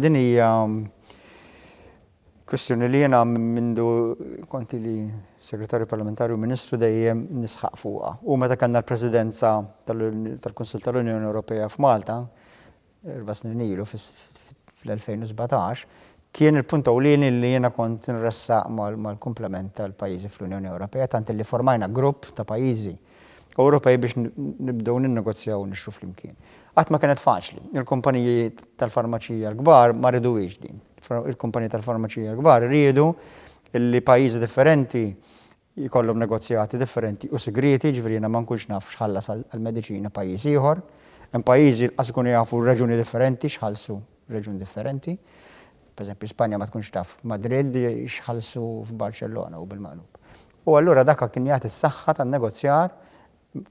Din hija kwistjoni li jiena mindu kont ili Segretarju Parlamentari u Ministru dejjem nisħaq fuqha. U meta kellna l-Presidenza tal-Kunsill tal-Unjoni Ewropea f'Malta, erba' snin ilu fl-2017, kien il-punt ewlieni li jiena kont inressaq mal-kumplament tal-pajjiżi fl-Unjoni Ewropea tant li formajna grupp ta' pajjiżi Ewropej biex nibdew ninnegozjaw u nixtru flimkien. Qatt ma kienet faċli. Il-kumpaniji tal-farmaċija l-kbar ma riduwiex din. Il-kumpaniji tal-farmaċija l-kbar riedu li pajjiżi differenti jkollhom negozjati differenti u sigrieti, ġifieri jiena ma nkunx naf x'ħallas għall-mediċina pajjiż ieħor. Hemm pajjiżi lanqas ikunu jafu reġuni differenti x'ħallsu reġun differenti. Pereżempju, Spanja ma tkunx taf Madrid x'ħallsu f'Barċellona u bil-maqlub. U allura dak kien jagħti s-saħħa tan-negozjar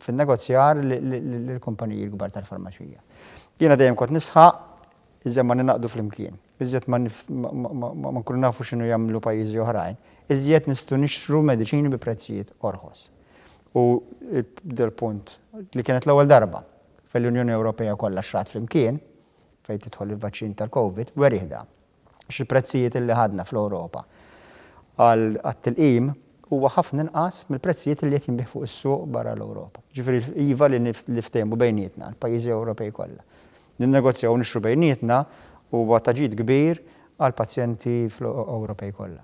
fin-negozjar lill-kumpaniji l-kbar tal-farmaċija. Jiena dejjem kont nisħaq, iżjed ma ningħaqdu flimkien, iżjed ma nkunu nafu x'inhu jagħmlu pajjiżi oħrajn, iżjed nistgħu nixtru mediċini bi prezzijiet orħos. U dal-punt, li kienet l-ewwel darba fejn l-Unjoni Ewropea kollha xtragħet flimkien, fejn tidħol il-vaċċin tal-COVID, werieh dan. għax il-prezzijiet illi ħadna fl-Ewropa għat-tilqim huwa ħafna inqas mill-prezzijiet illi qed jinbiegħ fuq is-suq barra l-Ewropa. Ġifieri iva li niftehmu bejnietna, l-pajjiżi Ewropej kollha. Ninnegozjaw u nixtru bejnietna huwa ta' ġid kbir għall-pazjenti fl-Ewropej kollha.